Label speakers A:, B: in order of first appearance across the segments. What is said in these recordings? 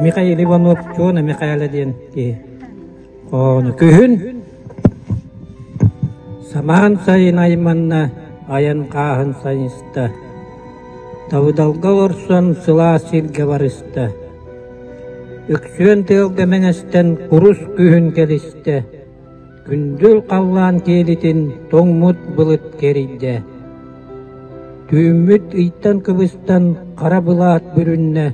A: Михаил Иванов Чуона Михаила диэн киһи. Ону күһүн самаан сайын айманна айан хааһын сайыста. Тавыдалга орсон сылаас сиргэ барыста. Өксүөн тыалга мэҥэстэн курус күһүн кэбистэ, күндүл халлаан киэлитин тоҥмут былыт кэрийдэ. Түүммүт ыйтан кыбыстан хара былаат бүрүннэ,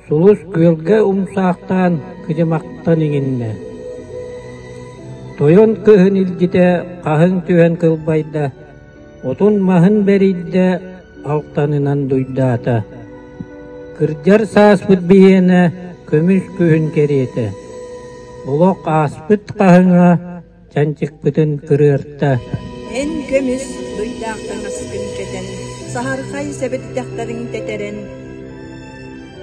A: сулус күөлгэ умсаахтаан кыдьымахтан иҥиннэ. Тойон кыһын илгитэ хаһыҥ түһэн кылбайда, отун маһын бэрийдэ, алтанынан дуйдаата. Кырдьар сааспыт биһиэнэ көмүс күһүн кэриэтэ. Олох ааспыт хаһыҥа чанчыкпытын кырыарта. Эн көмүс дуйдаах таҥаскын кэтэн, саһархай сэбирдэхтэрин тэтэрэн,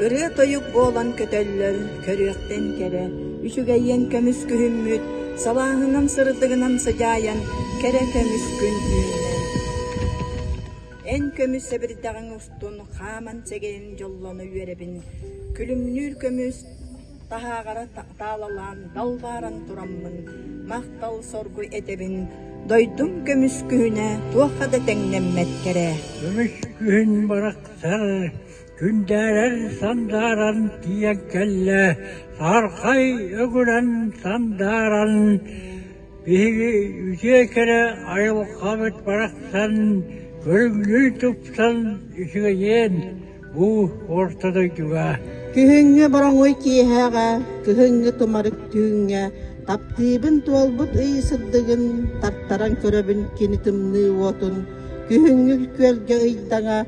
A: Ырыа-тойук буолан көтөллөр, көрүөхтэн кэрэ, үчүгэйиэн көмүс күһүммүт, салааһынан сырдыгынан сыдьаайан кэрэ көмүс күн үүннэ. Эн көмүс сэбирдэҕиҥ устун хааман сэгэйин дьоллоно үөрэбин, күлүмнүүр көмүс таһааҕара таалалаан далбааран тураммын, махтал соргу этэбин, дойдум көмүс күһүнэ туохха да тэҥнэммэт кэрэ. Көмүс күһүн барахсар Күндээрэр сандааран тиийэн кэллэ, саархай өгүрэн сандааран, биһиги үтүө кэрэ айылҕабыт барахсан көрүҥнүү тупсан үчүгэйиэн бу орто дойдуга. Күһүҥҥү бороҥуй киэһэҕэ, кыһыҥҥы тумарык түүҥҥэ таптыыбын туолбут ый сырдыгын тартаран көрөбүн кини тымныы уотун, күһүҥҥү күөлгэ ыйдаҥа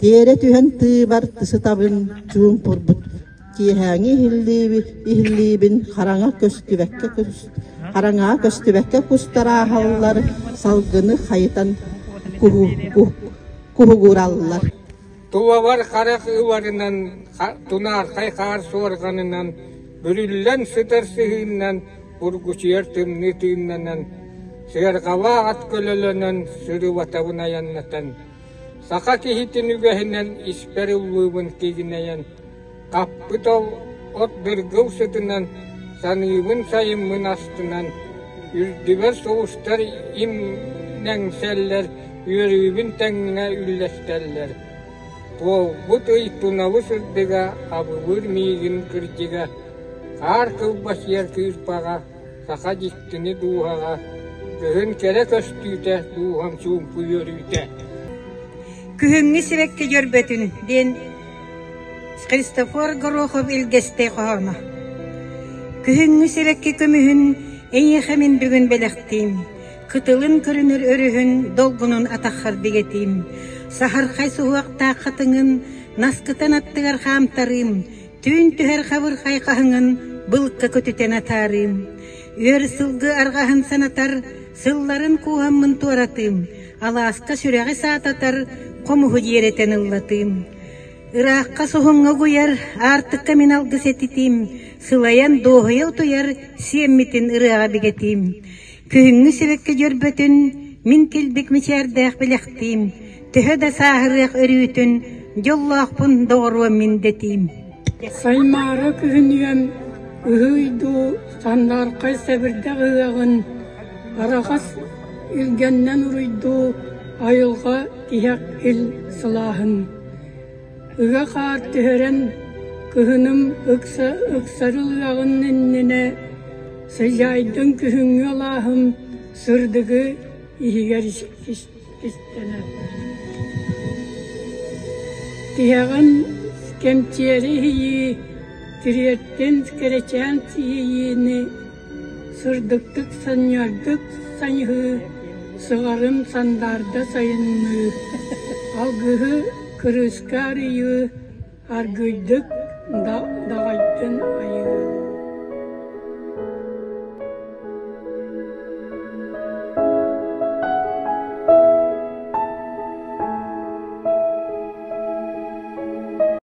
A: Тиэрэ түһэн тыыбар сытабын чуумпурбут киэһээҥи иһиллииби иһиллиибин хараҥа көстүбэккэ кус хараҥаҕа көстүбэккэ кустар ааһаллар, салгыны хайытан куһу куһ куһугураллар. Туовар харах ыбарынан тунаархай хаар суорҕанынан бүрүллэн сытар сыһыыннан бургучуйар тымныы тыыннанан сыарҕалаа ат көлөлөнөн сырыбатабын айаннатан Саха киһитин үгэһинэн испэр ыллыыбын кигинэйэн, хаппыт ол от дыргыл сытынан, саныыбын-сайыммын астынан, үрдүбэр сулустар имнэҥсэллэр, үөрүүбүн тэҥҥэ үллэстэллэр. Туолбут ый тунабы сырдыга, абылыыр миигин кырдьыга, хаар кылбасыйар кыырпаҕа, Саха дьиктини дууһаҕа, Кыһын кэрэ көстүүтэ, Дууһам чуумпу үөрүүтэ. Күһүҥҥү сибэкки дьөрбөтүн диэн Христофор Горохов илгэстэй хоһооно. Күһүҥҥү сибэкки көмүһүн эйиэхэ мин бүгүн бэлэхтиим. Кытылын көрүнэр өрүһүн долгунун атаххар бигэтиим. Саһархай суһуохтаах хатыҥын наскытан аттыгар хаамтарыым. Түүн түһэр хабырхай хаһыҥын былка көтүтэн атаарыым. Үөр сылгы арҕаһын санатар, сылларын кууһаммын туоратыым. Алааска сүрэҕи саататар, хомуһу диэрэтэн ыллатыым. Ыраахха суһуҥҥа угуйар, аартыкка мин алгыс этитиим. Сылайан дуоһуйа утуйар, сиэммитин ырыаҕа бигэтиим. Кыһыҥҥы сибэкки дьөрбөтүн мин килбик мичээрдээх билэхтиим, төһө да сааһырыах өрүүтүн дьоллоохпун доҕоруом мин дэтиим Саймаара кыһыныан ыһыйду сандааркай сэбирдэх ыһыаҕын арахас илгэннэн уруйдуу айылҕа тиһэх ил сылааһын Ыга хаар түһэрэн, кыһыным ыкса ыксарыл ыаҕын иннинэ сыдьаайдын күһүҥҥү алааһым сырдыгы иһигэр истэнэ Тиһэҕин кэмчиэри иһийии, тириэртин кэрэчээн иһийиини Сырдыктык санньыардык сайыһыы, сыҕарын сандаарда сайынныы, алгыһы кырыыска арыйыы, аргыйдык даҕайдын айыы